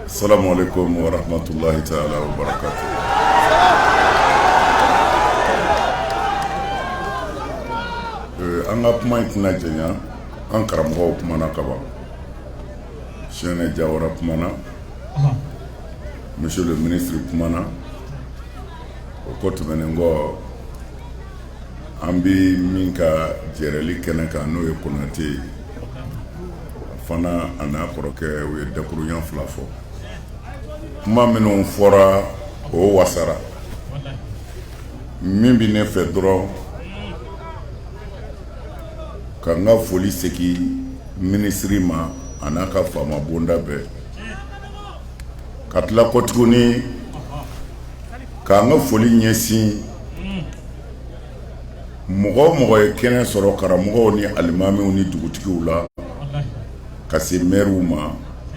Assalamu alaikum warahmatullahi taala wabarakatu. Eh, an ka kuma in tɛna janya an karamɔgɔw kumana ka ban sɛnɛ jawara kumana monsieur le ministre kumana o ko tɛmɛnen kɔ An bɛ min ka jɛrɛli kɛnɛ kan n'o ye konatɛ ye fana a n'a kɔrɔkɛ u ye dakurunɲa fila fɔ kuma minnu fɔra o wasara min bɛ ne fɛ dɔrɔn ka n ka foli segin minisiri ma a n'a ka faama bonda bɛɛ ka tila kɔt K'an ka foli ɲɛsin mɔgɔ o mɔgɔ ye kɛnɛ sɔrɔ karamɔgɔw ni alimamiw ni dugutigiw la ka se mɛriw ma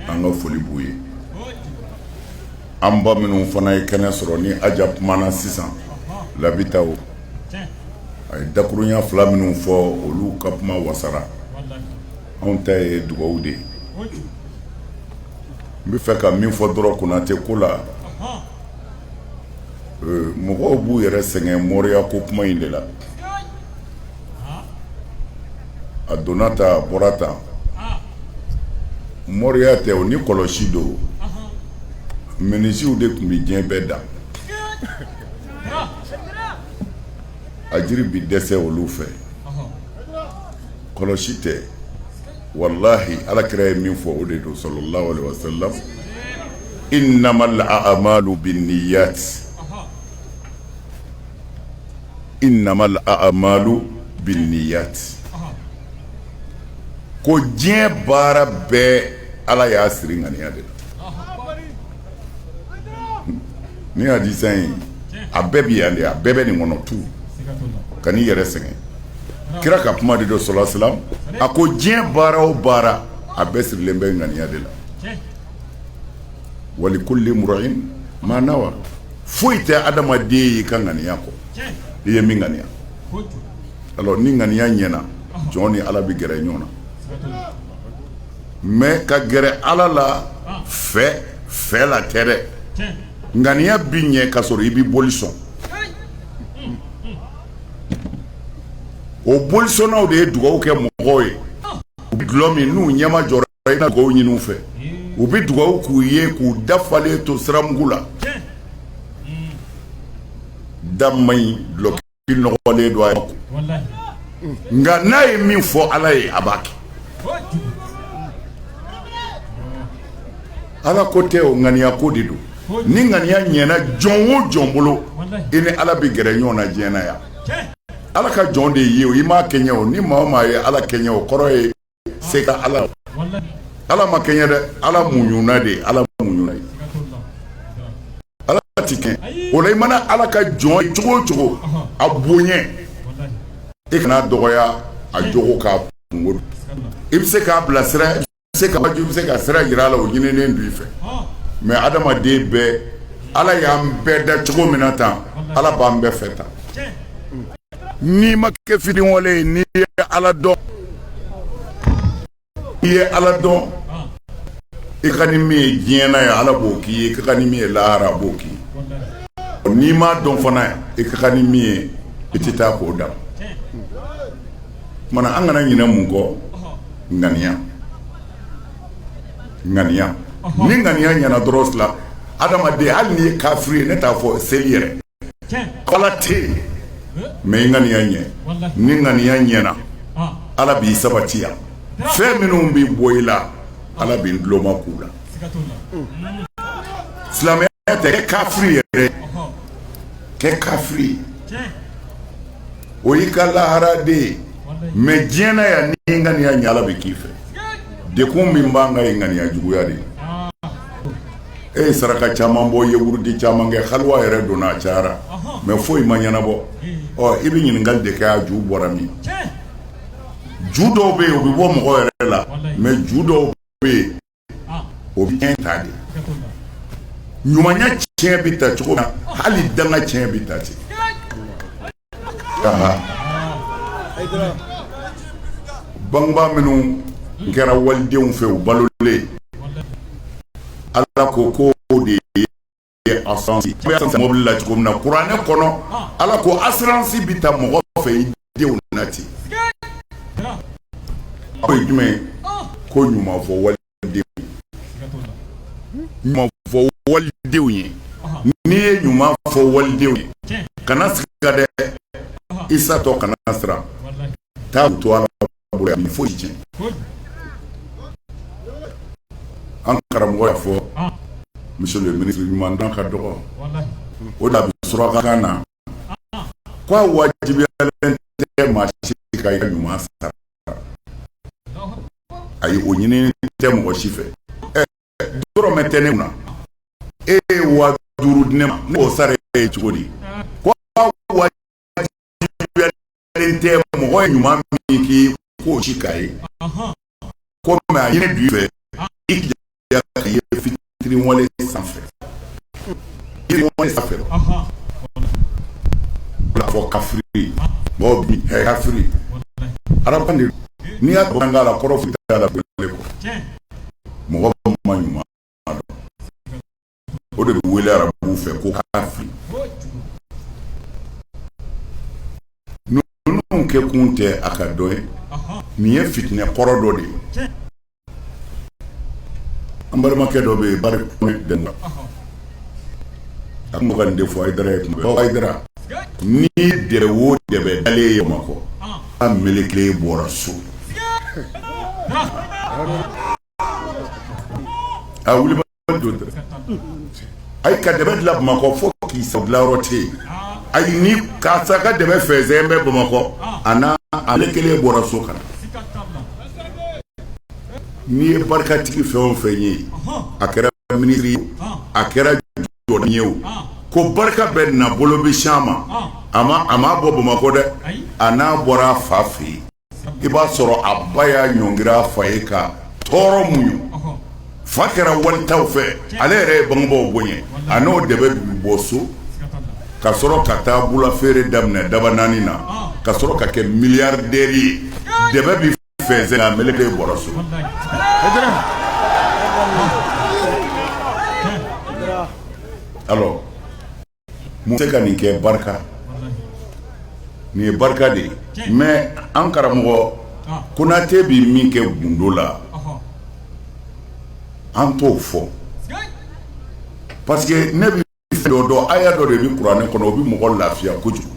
an ka foli b'u ye an ba minnu fana ye kɛnɛ sɔrɔ ni aja kumana sisan labitaw a ye dakurunɲa fila minnu fɔ olu ka kuma wasara anw ta ye dugawu de ye n bɛ fɛ ka min fɔ dɔrɔn konatɛ ko la mɔgɔw b'u yɛrɛ sɛgɛn mɔriya ko kuma in de la a donna tan a bɔra tan mɔriya tɛ o ni kɔlɔsi don menisiyew de tun bɛ diɲɛ bɛɛ dan a jiri bɛ dɛsɛ olu fɛ kɔlɔsi tɛ walahi ala kira ye min fɔ o de don sallallahu alaihi wasallam innamal a'malu binniyat innamal a'malu binniyat ko diɲɛ baara bɛɛ ala y'a siri ŋaniya de la ni hadisa in a bɛɛ bɛ yan de a bɛɛ bɛ nin kɔnɔ tu kan'i yɛrɛ sɛgɛn kira ka kuma de don sallallahu alaihi wasallam a ko diɲɛ baara o baara a bɛɛ sirilen bɛ ŋaniya de la wa likulli mri'in ma nawa foyi tɛ adamaden y'i ka ŋaniya kɔ i ye min ŋaniya alors ni ŋaniya ɲɛna jɔn ni ala bɛ gɛrɛ ɲɔgɔn na mais ka gɛrɛ ala la fɛ fɛ la tɛ dɛ ŋaniya bi ɲɛ ka sɔrɔ i bi boli sɔn o bolisɔnnaw de ye dugawu kɛ mɔgɔw ye u bɛ dulɔ min n'u ɲɛmajɔra i na dugawu ɲini u fɛ u bɛ dugawu k'u ye k'u dafalen to siramugu la da in dulɔki nɔgɔlen don a ye nka n'a ye min fɔ ala ye a b'a kɛ ala ko tɛ o ŋaniya ko de don ni ŋaniya ɲɛna jɔn o jɔn bolo i ni ala bɛ gɛrɛ ɲɔgɔn na diɲɛ na yan ala ka jɔn de ye o i ma kɛɲɛ o ni maa o maa ye ala kɛɲɛ o kɔrɔ ye se ka ala ala ma kɛɲɛ dɛ ala muɲuna de ye ala muɲuna ye ala ti kɛɲɛ o la i mana ala ka jɔn ye cogo o cogo a bonya i kan'a dɔgɔya a jogo k'a kunko i bɛ se k'a bilasira se ka bɛ se ka sira jira a la o ɲininen b'i fɛ mɛ adamaden bɛɛ ala y'an bɛɛ da cogo min na tan ala b'an bɛɛ fɛ tan n'i ma kɛ fitiriwale ye n'i ye ala dɔn i ye ala dɔn i ka kan ni min ye diɲɛ na yan ala b'o k'i ye i ka kan ni min ye lahara a b'o k'i ye n'i m'a dɔn fana i ka kan ni min ye i tɛ taa k'o da tuma an kana ɲinɛ mun kɔ ŋaniya ŋaniya ni ŋaniya ɲɛna dɔrɔn fila adamaden hali n'i ye kafiri ye ne t'a fɔ seli yɛrɛ ala tɛ mɛ i ŋaniya ɲɛ ni ŋaniya ɲɛna ala b'i sabati yan fɛn minnu bɛ bɔ i la ala bɛ duloma k'u la silamɛ tɛ kafiri yɛrɛ kɛ kafiri o y'i ka lahara de ye mɛ diɲɛ na yan n'i ye ŋaniya ɲɛ Ala bɛ k'i fɛ degun min b'an kan ye ŋaniya juguya de ye e ye saraka caman bɔ i ye wurudi caman kɛ haluwa yɛrɛ donna a cayara mɛ foyi ma ɲɛnabɔ ɔ i bɛ ɲininkali de kɛ a ju bɔra min ju dɔw bɛ yen u bɛ bɔ mɔgɔ yɛrɛ la mɛ ju dɔw bɛ yen ah. o bɛ tiɲɛ ta de ɲumanya tiɲɛ bɛ ta cogo min hali danga tiɲɛ bɛ ta ten bangebaa minnu kɛra walidenw fɛ u balolen ala ko ko de ye mɔbili la cogo min na kuranɛ kɔnɔ ala ko asuransi bɛ ta mɔgɔ fɛ i denw na ten o ye jumɛn ko ɲuman fɔ wali ɲuman fɔ walidenw ye n'i ye ɲuman fɔ walidenw ye kana siga dɛ i satɔ kana siran taa to ala bolo yan foyi tiɲɛ an karamɔgɔ y'a fɔ monsieur le ministre ɲuman dɔn ka dɔgɔ o de bɛ surakakan na k'a wajibiyalen tɛ maa si ka ɲuman sara a ye o ɲinin tɛ mɔgɔ si fɛ dɔrɔmɛ tɛ ne kun e ye wa duuru di ne ma n b'o sara e ye cogo di wajibiyalen tɛ mɔgɔ ye ɲuman min k'i k'o si k'a ye ko mɛ a ɲini b'i fɛ i jija ka ye fitiriwale sanfɛ fitiriwale sanfɛ bila fɔ kafiri mɔgɔw bi ɛ kafiri arabu de n'i y'a dɔn k'a la kɔrɔ foyi t'a la bilen kɔ mɔgɔ ma ɲuman o de bɛ wele arabuw fɛ ko kafiri ninnu kɛ kun tɛ a ka dɔn ye nin ye fitinɛ kɔrɔ dɔ de ye an balimakɛ dɔ bɛ yen ba den na a tun bɛ ka nin de fɔ ayidara ye tuma bɛɛ ayidara n'i ye o dɛbɛn dalen ye bamakɔ a melekelen bɔra so a wuli a ka dɛbɛn dilan bamakɔ fo k'i sa dilanyɔrɔ tɛ yen ayi ni karisa ka dɛbɛn fɛnsɛnnen bɛ bamakɔ a melekelen bɔra so ka na n'i ye barikatigi fɛn o fɛn ye a kɛra minisiri ye a kɛra jɔn ye o ko barika bɛ n'a bolo bɛ se a ma a a ma bɔ bamakɔ dɛ a n'a bɔra a fa fɛ yen i b'a sɔrɔ a ba y'a ɲɔngiri a fa ye ka tɔɔrɔ muɲu fa kɛra wali taw fɛ ale yɛrɛ ye bangebaw bonya a n'o dɛbɛn bɛ bɔ so ka sɔrɔ ka taa bula feere daminɛ dabanani na ka sɔrɔ ka kɛ miliyardɛri ye dɛbɛn bɛ fɛnsɛn a meleke bɔra so mun bɛ se ka nin kɛ barika nin ye barika de ye mɛ an karamɔgɔ konatɛ bɛ min kɛ gundo la an t'o fɔ parce que ne bɛ dɔ dɔn aya dɔ de bɛ kuranɛ kɔnɔ o bɛ mɔgɔ lafiya kojugu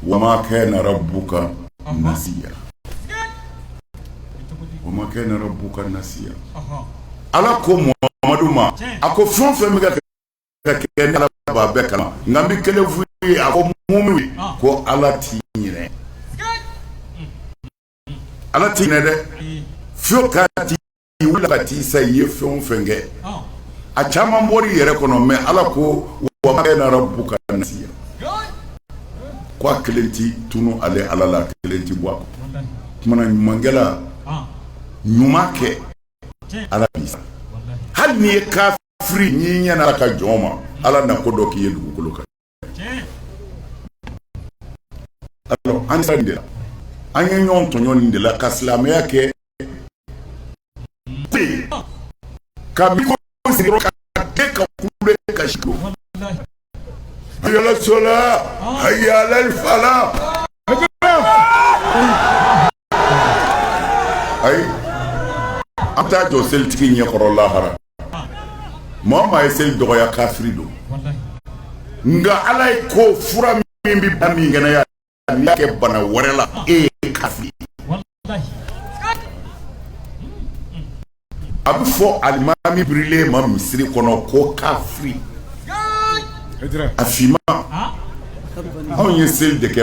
wamakɛ nana bu ka na omakɛ nana bu ka na ala ko mɔmadu ma a ko fɛn fɛn bɛ ka bɛɛ kalan nka bɛ kelen furu ye a ko mun ko ala t ɲ ala t dɛ fi ka I wili ka t'i sa i ye fɛn o fɛn kɛ a caman bɔra i yɛrɛ kɔnɔ mais Ala ko wama kana rabbuka nasiya ko a kelen tɛ tunu ale Ala la a kelen tɛ bɔ a kɔ, walahi, o tuma na ɲumankɛla ɲuman kɛ Ala b'i sara hali n'i ye kafiri ye n'i ɲɛna Ala ka jɔn ma Ala na ko dɔ k'i ye dugukolo kan Alors, an sera nin de la an ye ɲɔgɔn tɔɲɔ nin de la ka silamɛya kɛ pe ka mikoro sigi ka kɛ ka kule ka si ko hayala sola hayala fala ayi an taa jɔ selitigi ɲɛkɔrɔ lahara maa min ye seli dɔgɔya kafiri don nka ala ye ko fura min bɛ bana min kɛnɛya n'i y'a kɛ bana wɛrɛ la e ye kafiri a bɛ fɔ alimami birilen ma misiri kɔnɔ ko kafiri a finman anw ye seli de kɛ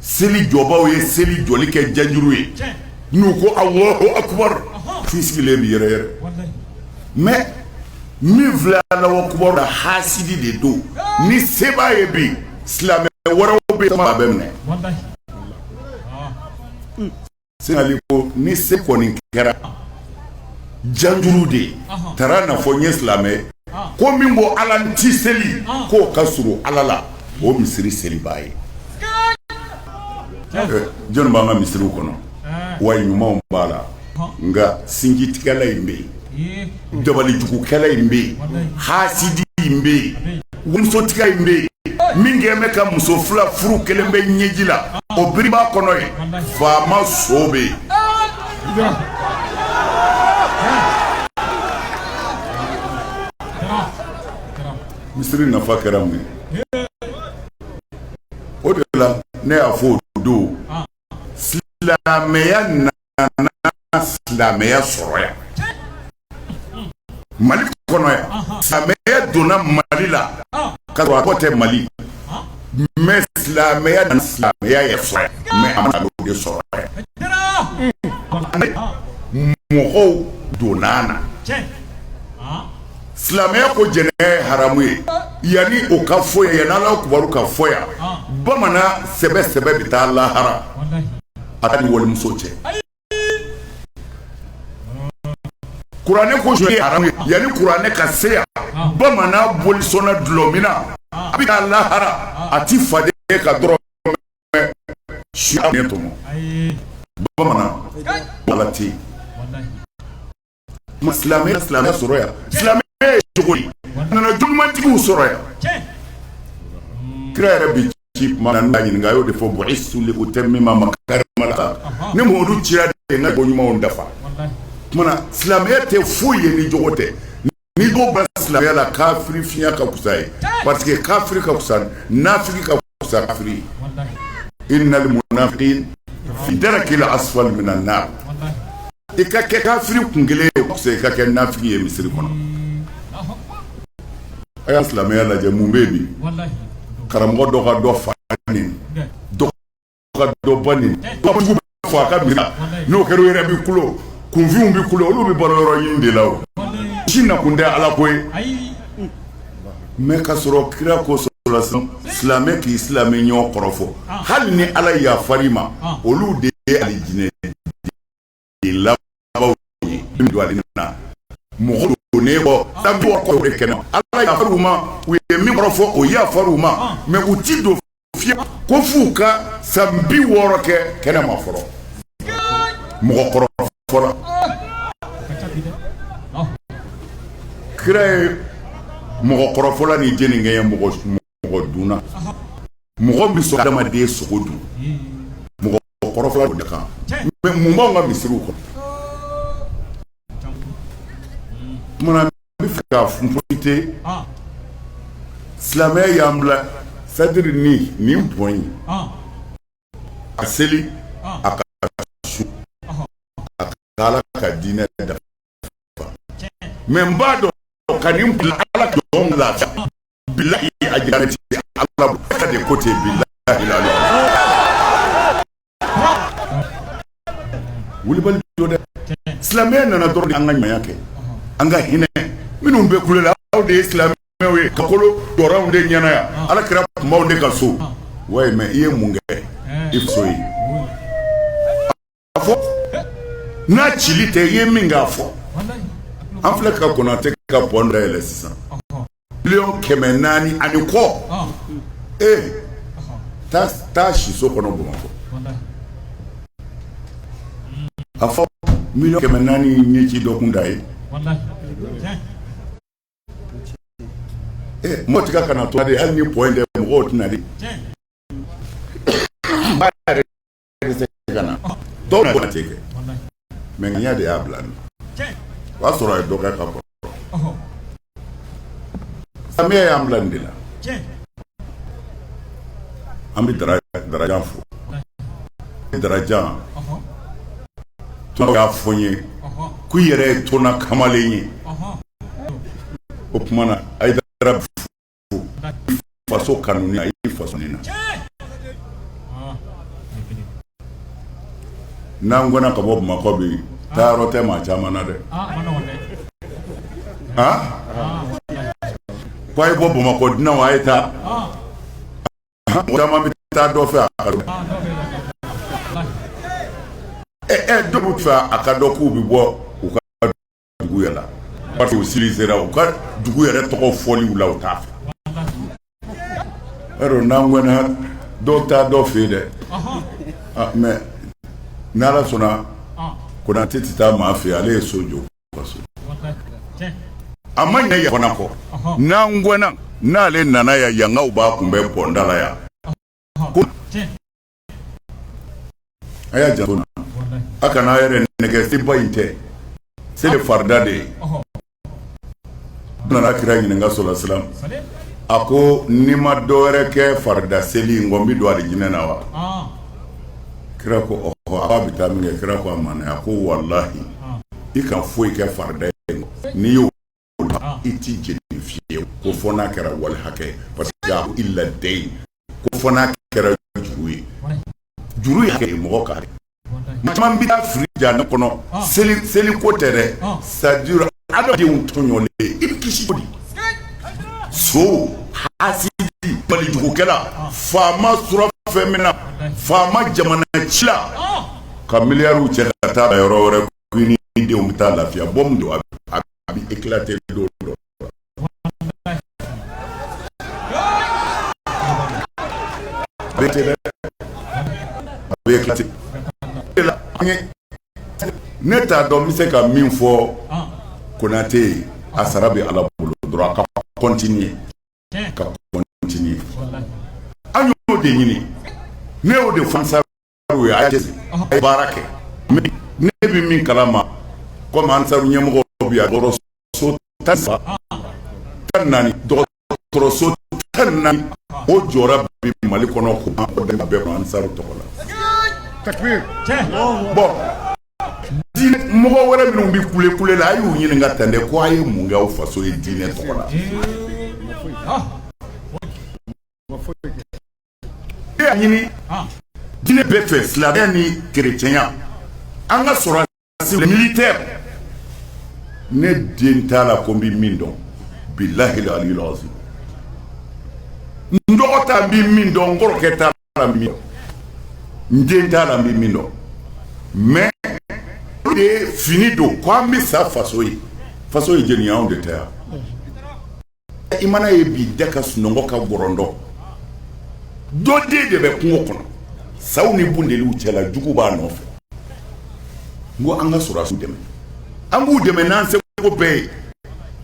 seli jɔbaaw ye seli jɔli kɛ janjuru ye n'u ko Alahu akibaru f'i sigilen bɛ yɛrɛyɛrɛ mais min filɛ Alahu akibaru la haasidi de don ni se b'a ye bi silamɛ wɛrɛw bɛ yen a bɛ minɛ seli kɔni se kɔni kɛra janjuru de ye taara na fɔ n ye silamɛ ko min bɔ ala n ti seli k'o ka surun ala la o misiri selibaa ye jɔn b'an ka misiriw kɔnɔ wa ɲumanw b'a la nka sinjitigɛla in bɛ yen dabalijugukɛla in bɛ yen hasidi in bɛ yen musotigi in bɛ yen min kɛlen bɛ ka muso fila furu kelen bɛ ɲɛji la o biri b'a kɔnɔ yen faama so bɛ yen misiri nafa kɛra mun ye o de la ne y'a fɔ o don silamɛya silamɛya sɔrɔ yan mali kɔnɔ yan silamɛya donna mali la ka sɔrɔ a tɔgɔ tɛ mali mɛ silamɛya nana silamɛya yɛrɛ sɔrɔ yan mɛ a maana de sɔrɔ yan mɔgɔw donna na silamɛya ko jɛnɛ ye haramu ye yanni o ka fɔ yan yanni alahu akibaru ka fɔ yan bamanan sɛbɛ sɛbɛ bɛ taa lahara a kana walimuso cɛ kuranɛ ko jɛnɛ ye haramu ye yanni kuranɛ ka se yan bamanan bolisɔnna dulɔminna a bɛ taa lahara a ti faden ka dɔrɔmɛ sonya tɔmɔ bamanan ala tɛ yen Ma silamɛ silamɛ sɔrɔ yan silamɛ jogo nana jogoɲumantigiw sɔrɔ yan kira yɛrɛ bi ci ɲininka a y'o de fɔ bu'istu li utammima makarima al-akhlaq ne Muhamadu cira de n ka ko ɲumanw dafa o tuma na silamɛya tɛ foyi ye ni jogo tɛ ni ko ba silamɛya la kafiri fiɲɛya ka fisa ye parce que kafiri ka fisa nafiki kafiri innal munafiqina fi darkil asfali minan nar i ka kɛ kafiri kun kelen ye i ka kɛ nafiki ye misiri kɔnɔ a y'a silamɛya lajɛ mun bɛ bi karamɔgɔ dɔ ka dɔ fa ka dɔ ba neni dɔ fɔ a ka mina n'o kɛra o yɛrɛ bɛ kulo kunfinw bɛ kulo olu bɛ balo yɔrɔ ɲini de la o si nakun tɛ ala ko ye mɛ ka sɔrɔ kira ko sɔrɔ silamɛ k'i silamɛ ɲɔgɔn kɔrɔfɔ hali ni ala yafar'i ma olu de ye alijinɛ den labanw ye min don ale na mɔgɔ don ne bɔ san bi wɔɔrɔ kɔrɔ de kɛnɛ ala yafar'u ma u ye min kɔrɔfɔ o yafar'u ma mɛ u ti don fiye ko f'u ka san bi wɔɔrɔ kɛ kɛnɛ ma fɔlɔ mɔgɔ kɔrɔfɔla kira ye mɔgɔ kɔrɔfɔla ni jeninkɛ ye mɔgɔ mɔgɔ dunna mɔgɔ bɛ sɔrɔ adamaden sogo dun mɔgɔ kɔrɔfɔla de kan mɛ mun b'anw ka misiriw kɔnɔ tuma n b'a fɛ ka funfolite silamɛya y'an bila c'est-à-dire ni nin bɔn ye a seli a ka sun a ka ala ka diinɛ dafa mɛ n b'a dɔn ka nin bila ala ka jɔn lafiya bilahi a jira ti Allah de ko ten bilahi lawulibali don dɛ silamɛya nana dɔrɔn an ka ɲumanya kɛ an ka hinɛ minnu bɛ kule la aw de ye silamɛw ye ka kulo dɔrɔnw de ɲɛna yan ala kira kumaw de ka so wayi mɛ i ye mun kɛ i faso ye A fɔ n'a ci tɛ i ye min k'a fɔ an filɛ ka Konatɛ ka pɔn dayɛlɛ sisan miliyɔn kɛmɛ naani ani kɔ ee taa siso kɔnɔ bamakɔ a fɔ miliyɔn kɛmɛ naani ɲɛci dɔ kunda ye mɔgɔ tɛ ka kana to de hali ni pɔn tɛ mɔgɔw tɛna de mais ŋaniya de y'a bila n na o y'a sɔrɔ a ye dɔ kɛ ka kɔrɔ silamɛya y'an bila nin de la an bɛ dara darajan fo darajan tɔnɔ y'a fɔ n ye ko i yɛrɛ ye tɔnɔ kamalen ye o tuma na a ye dara faso kanu na n'an gɛnna ka bɔ bamakɔ bi taayɔrɔ tɛ maa caman na dɛ ko a ye bɔ bamakɔ dunanw a ye taa caman bɛ taa dɔ fɛ a ɛ dɔw t'a fɛ a ka dɔn k'u bɛ bɔ dugu yɛrɛ la parce que u civilisera u ka dugu yɛrɛ tɔgɔ fɔliw la u t'a fɛ yɔrɔ n'an gɛnna dɔw taa dɔ fɛ yen dɛ ah, mais n'ala sɔnna konate tɛ taa maa fɛ ale ye so jɔ a ma ɲɛ yan fana kɔ n'an gɛnna n'ale nana yan yankaw b'a kunbɛn bɔnda la yan A y'a janto a kana n'a yɛrɛ nɛgɛn seba in tɛ se de farida de ye nana kira ɲininka sola salam a ko ni n ma dɔ wɛrɛ kɛ farida seli kɔ n bɛ don alijinɛ na wa kira ko a'a bɛ taa min kɛ kira ko a ma a ko walahi i ka foyi kɛ farida ye n'i y'o i tɛ jeni fiyewu ko fɔ n'a kɛra wali hakɛ ye parce que a ko illa dayn ko fɔ n'a kɛra juru ye juru ye hakɛ de ye mɔgɔ ka hakɛ maa caman bɛ taa fili jahanama kɔnɔ seli seli ko tɛ dɛ c'est à dire adamadenw tɔɲɔlen i bɛ kisi cogo di son hasidi balijugukɛla faama surafɛn minɛna faama jamana cila ka miliyariw cɛ ka taa yɔrɔ wɛrɛ ni denw bɛ taa lafiya bɔmu don a bɛ éclater don dɔ ne t'a dɔn n bɛ se ka min fɔ konate ye a sara bɛ ala bolo dɔrɔn a ka continuer ka continuer an y'o de ɲini ne y'o de fɔ ansaru ye a jate a ye baara kɛ ne bɛ min kalama comme ansaru ɲɛmɔgɔ bɛ yan dɔgɔtɔrɔso tan ni saba tan ni naani dɔgɔtɔrɔso tan ni naani o jɔra bi mali kɔnɔ ko an o dɛmɛ bɛɛ ma ansaru tɔgɔ la bon diinɛ mɔgɔ wɛrɛ minnu bɛ kule kule la a y'u ɲininka tan dɛ ko a ye mun kɛ aw faso ye diinɛ tɔgɔ la ɲini diinɛ bɛɛ fɛ silamɛya ni kerecɛnya an ka sɔrɔdasi militaire ne den t'a la ko n bɛ min dɔn bilahi aliyul azim n dɔgɔ t'a n bɛ min dɔn n kɔrɔkɛ t'a la n bɛ min dɔn n den t'a la n bɛ min dɔn mais o de ye fini don ko an bɛ sa faso ye faso ye jeni anw de tɛ yan i mana ye b'i da ka sunɔgɔ ka gɔrɔndɔ dɔ den de bɛ kungo kɔnɔ saw ni bunteniw cɛla jugu b'a nɔfɛ n ko an ka sɔrɔdasiw dɛmɛ an k'u dɛmɛ n'an seko bɛɛ ye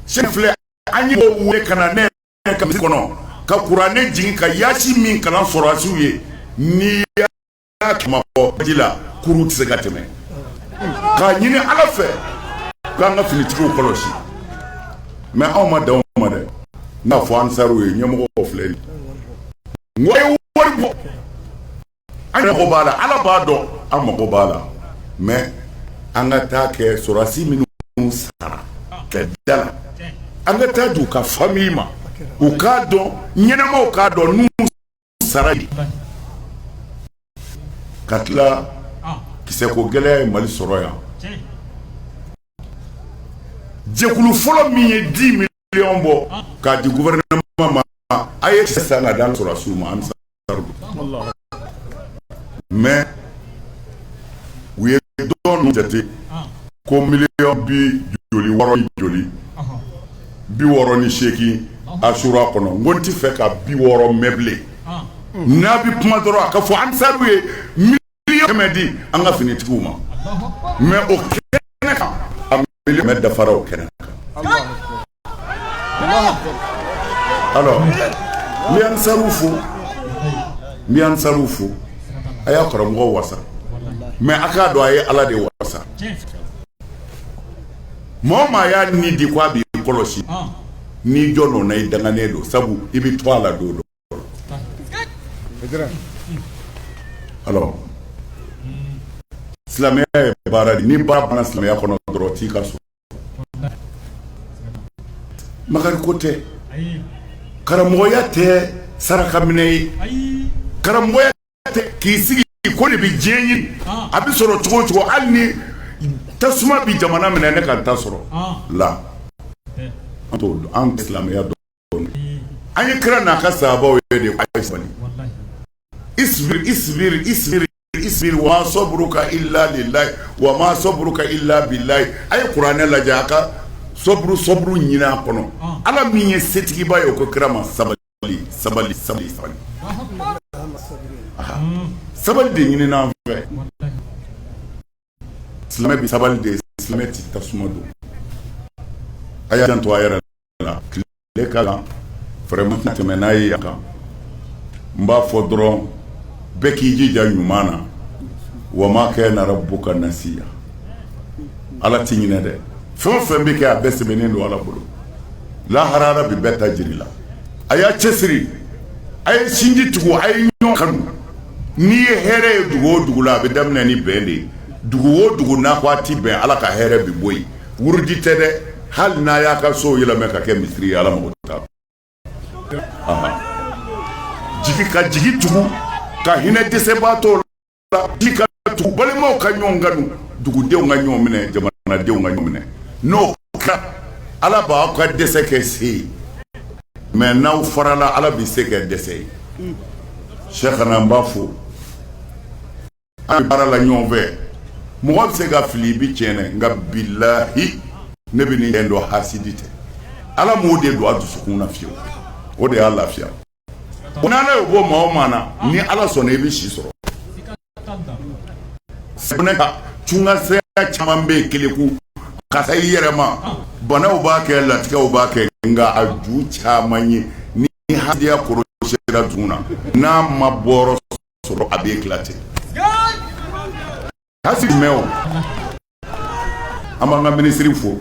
sen filɛ an ye mɔgɔw weele ka na ne ka misiri kɔnɔ ka kuranɛ jigin ka yaasi min kalan sɔrɔdasiw ye n'i y'a kɛmɛ fɔ ji la kurun tɛ se ka tɛmɛ k'a ɲini ala fɛ k'an ka finitigiw kɔlɔsi mais anw ma dan o ma dɛ n y'a fɔ ansaru ye ɲɛmɔgɔw filɛ n ko a ye wari bɔ an mago b'a la ala b'a dɔn an mago b'a la mais an ka taa kɛ sɔrɔdasi minnu sara kɛlɛda la an ka taa di u ka famille ma u k'a dɔn ɲɛnamaw k'a dɔn n'u sara ka tila kisɛ ko gɛlɛya ye mali sɔrɔ yan jɛkulu fɔlɔ min ye dix millions bɔ k'a di gouvernement ma a ye sisan ka d'an sɔrɔdasiw ma an mais u ye dɔn jate ko million bi joli wɔɔrɔ joli bi wɔɔrɔ ni seegin asura kɔnɔ n ko n t'a fɛ ka bi wɔɔrɔ mɛn bilen n'a bɛ kuma dɔrɔn a k'a fɔ ansaru ye million kɛmɛ di an ka finitigiw ma mais o kɛnɛ kan a million kɛmɛ dafara o kɛnɛ kan alors n bɛ ansaru fo a y'a karamɔgɔ wasa mais a k'a dɔn a ye ala de wasa Maa o maa y'a ni di ko a bɛ i kɔlɔsi n'i jɔnna o na i danganen don sabu i bɛ to a la don dɔ alors silamɛya ye baara de ni baara banna silamɛya kɔnɔ dɔrɔn t'i ka so makari ko tɛ karamɔgɔya tɛ saraka minɛ ye karamɔgɔya k'i sigi ko i de bɛ diɲɛ ɲini a bɛ sɔrɔ cogo o cogo hali ni tasuma bɛ jamana minɛ ne ka ta sɔrɔ la an t'o dɔn an silamɛya dɔn an ye kira n'a ka sahabaw ye de a ye sabali isibiri isibiri isibiri isibiri wa sɔburu ka ila de layi wa ma sɔburu ka ila bi layi a ye kuranɛ lajɛ a ka sɔburu sɔburu ɲini a kɔnɔ ala min ye setigiba ye o ko kira ma sabali sabali sabali sabali sabali de ɲinin'an fɛ silamɛ bɛ sabali de silamɛ tɛ tasuma don a y'a janto a yɛrɛ la tile ka kan vraiment tɛmɛ n'a ye yan kan n b'a fɔ dɔrɔn bɛɛ k'i jija ɲuman na wa ma kana rabbuka nasiya ala tɛ ɲinɛ dɛ fɛn o fɛn bɛ kɛ a bɛɛ sɛbɛnnen don ala bolo lahara bɛ bɛɛ ta jir'i la a y'a cɛsiri a ye sinji tugu a ye ɲɔgɔn kanu n'i ye hɛrɛ ye dugu o dugu la a bɛ daminɛ ni bɛn de ye dugu o dugu n'a ko a tɛ bɛn ala ka hɛrɛ bɛ bɔ yen wurudi tɛ dɛ hali n'a y'a ka so yɛlɛmɛ ka kɛ misiri ye ala mako t'a jigi ka jigi tugu ka hinɛ dɛsɛbaatɔw la tugu balimaw ka ɲɔgɔn kanu dugudenw ka ɲɔgɔn minɛ jamanadenw ka ɲɔgɔn minɛ n'o kɛra ala b'aw ka dɛsɛ kɛ se ye mais n'aw farala ala bɛ se kɛ dɛsɛ ye sɛ kana an b'a fɔ an bɛ baara la ɲɔgɔn fɛ mɔgɔ bɛ se ka fili i bɛ tiɲɛ nka bilahi ne bɛ nin dɔn hasidi tɛ ala m'o de don a dusukun na fiyewu o de y'a lafiya Ko n'Ala y'o bɔ maa o maa na ni Ala sɔnna i bɛ si sɔrɔ, siga t'a la, sɛgɛnɛ kan nka saya caman bɛ yen keleku ka sa i yɛrɛ ma banaw b'a kɛ latigɛw b'a kɛ nka a ju caman ye ni hasidiya korosiyara dusukun na n'a ma bɔyɔrɔ sɔrɔ a bɛ éclater a si mɛn o an b'an ka minisiri fo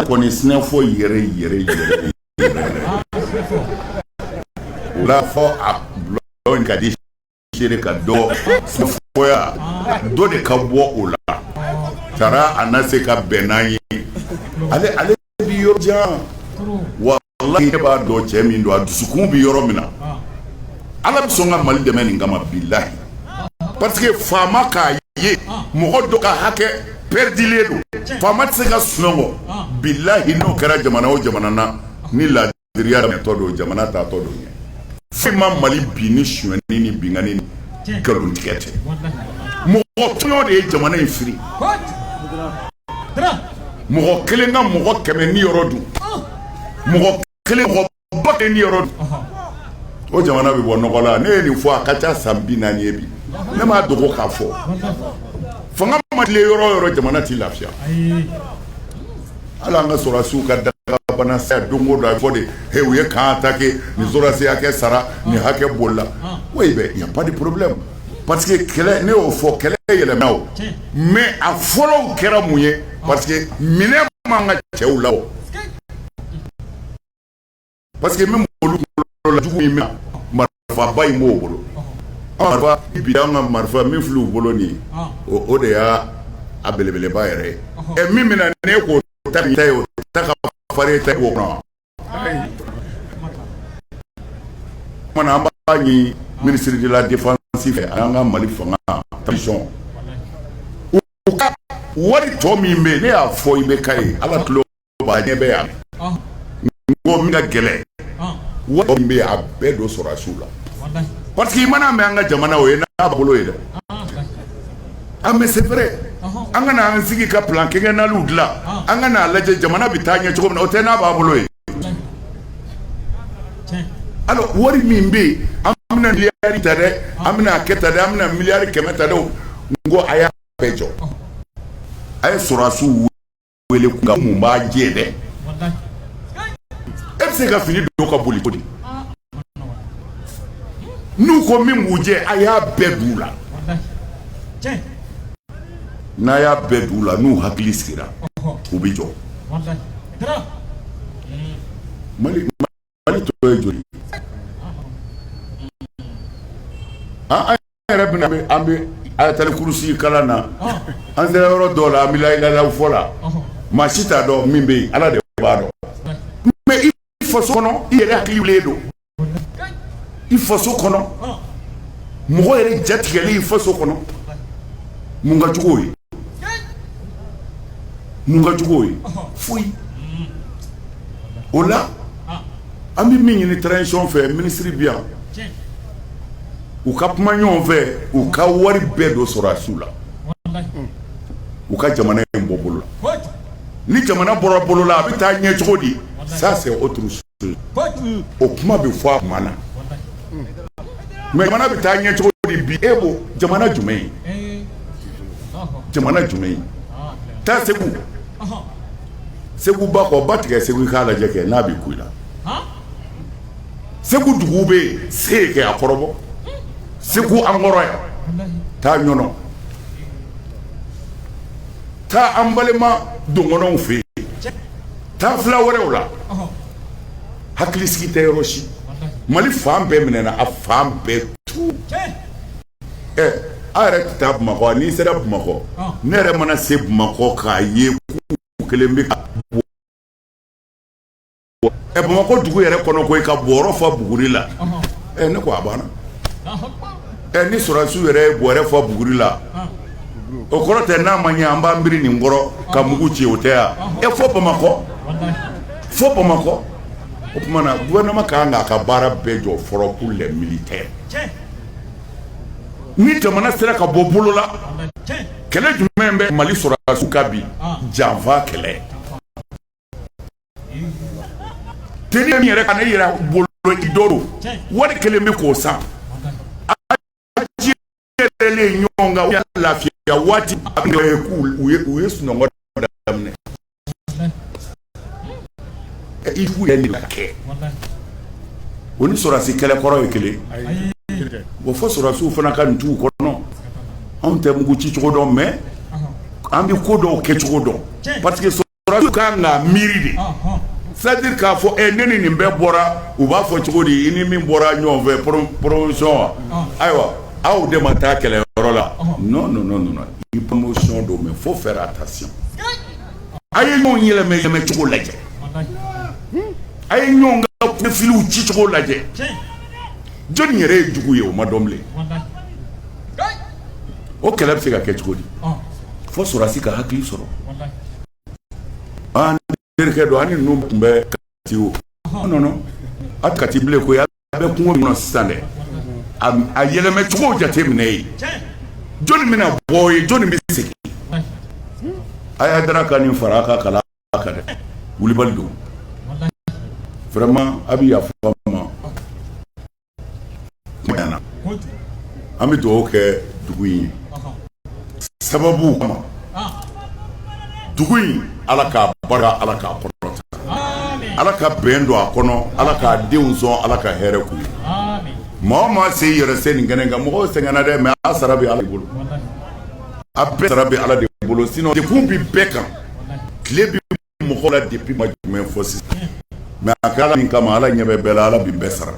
Kɔnɛ sinafɔ yɛrɛ yɛrɛwolo fɔ a in ka di seere ka dɔ sinafɔya dɔ de ka bɔ o la taara a na se ka bɛn n'an ye ale ale bi yɔrɔ jan walahi ne b'a dɔn cɛ min don a dusukun bɛ yɔrɔ min na ala bɛ sɔn ka mali dɛmɛ nin kama bilayi parce que faama k'a ye mɔgɔ dɔ ka hakɛ perdilen don faama tɛ se ka sunɔgɔ bilayi n'o kɛra jamana o jamana na ni la diriya tɔ don jamana taatɔ don ɲɛ fɛn ma mali bin ni sonyɛni ni binkani ni nkalontigɛ tɛ mɔgɔ tɔɲɔ de ye jamana in firi mɔgɔ kelen ka mɔgɔ kɛmɛ niyɔrɔ dun mɔgɔ kelen mɔgɔ ba kelen niyɔrɔ dun o jamana bɛ bɔ nɔgɔ la ne ye nin fɔ a ka ca san bi naani ye bi ne m'a dogo k'a fɔ fanga ma tilen yɔrɔ o yɔrɔ jamana tɛ lafiya Hali an ka sɔrɔsiw ka dagabana don o don a fɔ de h u ye camp attaqué nin sɔrɔsi hakɛ sara nin hakɛ bolila oui il y a pas de problème parce que kɛlɛ ne y'o fɔ kɛlɛ yɛlɛma o mais a fɔlɔw kɛra mun ye parce que minɛn b'an ka cɛw la parce que min b'olu bolo la jugu in bɛ marifaba min b'o bolo marifa bi an ka marifa min filɛ u bolo nin ye o de y'a a belebeleba yɛrɛ ye ɛ min bɛna ne k'o ta ta ye o ta ka farin ta ye o kɔnɔ kuma na an b'a ɲini ministre de la défense fɛ an ka mali fanga transition u ka wari tɔ min bɛ yen ne y'a fɔ i bɛ ka ye ala tulo ɲɛ bɛ yan n ko min ka gɛlɛn wari min bɛ yen a bɛɛ don sɔrɔdasiw la parce que i mana mɛn an ka jamana o ye n'a bolo ye dɛ mais c'est vrai an ka na an sigi ka plan quinquennal dilan an ka a lajɛ jamana bɛ taa ɲɛ cogo min na o tɛ n'a b'a bolo ye wari min bɛ yen an bɛna miliyari ta dɛ an bɛna kɛ ta dɛ an bɛna miliyari kɛmɛ ta dɛ ko a y'a bɛɛ jɔ a ye sɔrɔdasiw wele k'u ɲininka mun b'a jɛ dɛ e bɛ se ka fini don ka boli ko di n'u ko min b'u jɛ a y'a bɛɛ d'u la n'a y'a bɛɛ d'u la n'u hakili sigira u bɛ jɔ mali o tɔ ye joli. an yɛrɛ bɛna an bɛ an bɛ ayatali kurusi kalan na an sera yɔrɔ dɔw la an bɛ layilalaw fɔ la maa si t'a dɔn min bɛ yen ala de b'a dɔn mais i faso kɔnɔ i yɛrɛ hakili wililen don i faso kɔnɔ mɔgɔ yɛrɛ jatigɛlen i faso kɔnɔ mun ka jugu o ye mun ka jugu o ye foyi. o la an bɛ min ɲini transition fɛ minisiri bɛ yan u ka kuma ɲɔgɔn fɛ u ka wari bɛɛ don sɔrɔdasiw la u ka jamana in bɔ bolola ni jamana bɔra bolola a bɛ taa ɲɛ cogo di ça c'est autre chose o kuma bɛ fɔ a tuma na mais jamana bɛ taa ɲɛ cogo di bi e ko jamana jumɛn ye jamana jumɛn ye taa segu segu ba kɔ ba tigɛ segu i k'a lajɛ kɛ n'a bɛ kun i la segu dugu bɛ se yen kɛ a kɔrɔbɔ segu an kɔrɔ yan taa ɲɔnɔ taa an balima dɔgɔnɔw fɛ yen taa fila wɛrɛw la hakili sigi tɛ yɔrɔ si mali fan bɛɛ minɛna a fan bɛɛ tu ɛ aw yɛrɛ tɛ taa Bamakɔ wa? n'i sera Bamakɔ, ɔn, ne yɛrɛ mana se Bamakɔ k'a ye k'u kɛlen bɛ ka bɔ, ɛ Bamakɔ dugu yɛrɛ kɔnɔ koyi ka bɔrɔ fa buguri la, ɔnhɔn, ɛ ne ko a banna, Alahu akbar, ɛ ni sɔrɔdasiw yɛrɛ ye bɔrɛ fa buguri la, ɔn, o kɔrɔ tɛ n'a ma ɲɛ an b'an biri nin kɔrɔ ka mugu ci o tɛ wa? ɛ fo Bamakɔ, walahi, fo Bamakɔ, o tuma na gouvernement ka kan k'a ka baara bɛɛ jɔ fɔlɔ pour les militaires tiɲɛ ni jamana sera ka bɔ bolo la kɛlɛ jumɛn bɛ mali sɔrɔdasiw kan bi janfa kɛlɛ te min yɛrɛ ka ne yɛrɛ bolo i dɔrɔn wari kɛlen bɛ k'o san ɲɔgɔn kan lafiya waati u ye sunɔgɔ daminɛ o ni sɔrɔdasi kɛlɛ kɔrɔ ye kelen o fo sɔrɔdasiw fana ka nin t'u kɔnɔ anw tɛ mugu ci cogo dɔn mais an bɛ ko dɔw kɛ cogo dɔn parce que sɔrɔdasiw ka kan ka miiri de c'est-à-dire k'a fɔ e ne ni nin bɛɛ bɔra u b'a fɔ cogo di i ni min bɔra ɲɔgɔn fɛ promotion wa ayiwa aw de ma taa kɛlɛ yɔrɔ la non i promotion don mais faut faire attention a ye ɲɔgɔn yɛlɛmɛ cogo lajɛ a ye ɲɔgɔn ka profiliw ci cogo lajɛ jɔnni yɛrɛ ye jugu ye o ma dɔn bilen o kɛlɛ bɛ se ka kɛ cogo di fo sɔrɔdasi ka hakili sɔrɔ terikɛ dɔ ani ninnu tun bɛ kati o non a kati bilen ko a bɛ kungo min na sisan dɛ a yɛlɛmɛ cogo jateminɛ ye jɔnni bɛna bɔ ye jɔnni bɛ segin a y'a da ka nin fara a ka kalan kan dɛ wulibali don vraiment a bɛ yafa an ma an bɛ dugawu kɛ dugu in ye sababu kama dugu in ala k'a barika ala k'a kɔrɔta ala ka bɛn don a kɔnɔ ala k'a denw sɔn ala ka hɛrɛ k'u ye maa o maa se yɛrɛ se nin kɛnɛ kan mɔgɔw sɛgɛnna dɛ mais a sara bɛ ala bolo a bɛɛ sara bɛ ala de bolo sinon degun bɛ bɛɛ kan tile mɔgɔw la depuis tuma jumɛn fo sisan mais a kɛra min kama ala ɲɛ bɛ bɛɛ la ala bi bɛɛ sara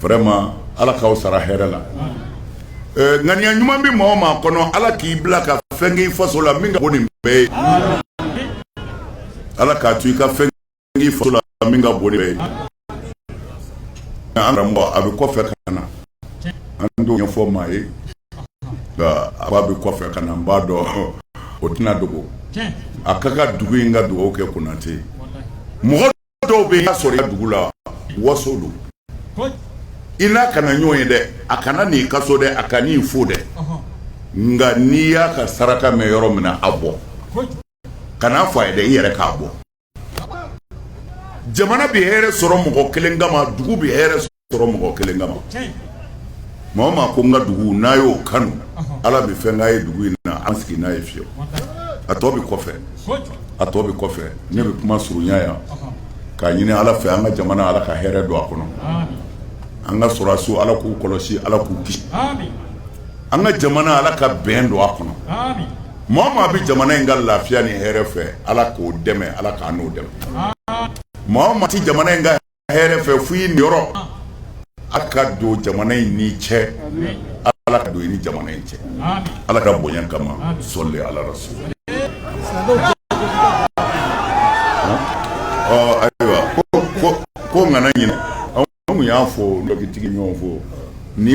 vraiment ala k'aw sara hɛrɛ la ŋaniya ɲuman bɛ maa o maa kɔnɔ ala k'i bila ka fɛn k'i faso la min ka bon nin bɛɛ ye ala k'a to i ka fɛn k'i faso la min ka bon nin bɛɛ ye An karamɔgɔ a bɛ kɔfɛ ka na an t'o ɲɛfɔ maa ye a b'a bɛ kɔfɛ ka na n b'a dɔn o tɛna dogo a ka ka dugu in ka dugawu kɛ konatɛ mɔgɔ dɔw bɛ ka sɔrɔ dugu la waso don i n'a kana ɲɔgɔn ye dɛ a kana n'i ka so dɛ a kan'i fo dɛ nka n'i y'a ka saraka mɛn yɔrɔ min na a bɔ kan'a fɔ a ye dɛ i yɛrɛ k'a bɔ jamana bɛ hɛrɛ sɔrɔ mɔgɔ kelen kama dugu bɛ hɛrɛ sɔrɔ mɔgɔ kelen kama maa o maa ko n ka dugu n'a y'o kanu ala bɛ fɛn k'a ye dugu in na an sigi n'a ye fiye a tɔ bɛ kɔfɛ ne bɛ kuma surunya yan k'a ɲini ala fɛ an ka jamana ala ka hɛrɛ don a kɔnɔ an ka sɔrɔdasiw ala k'u kɔlɔsi ala k'u kisi an ka jamana ala ka bɛn don a kɔnɔ Maa o maa bɛ jamana in ka lafiya ni hɛrɛ fɛ ala k'o dɛmɛ ala k'an n'o dɛmɛ maa o maa tɛ jamana in ka hɛrɛ fɛ f ye yɔrɔ ala ka don jamana in n'i cɛ ala ka don i ni jamana in cɛ ala ka bonya kama sɔli ala rasul ayiwa ko nana ɲin anw y'a fɔ dɔtigi ɲɔgɔn fɔ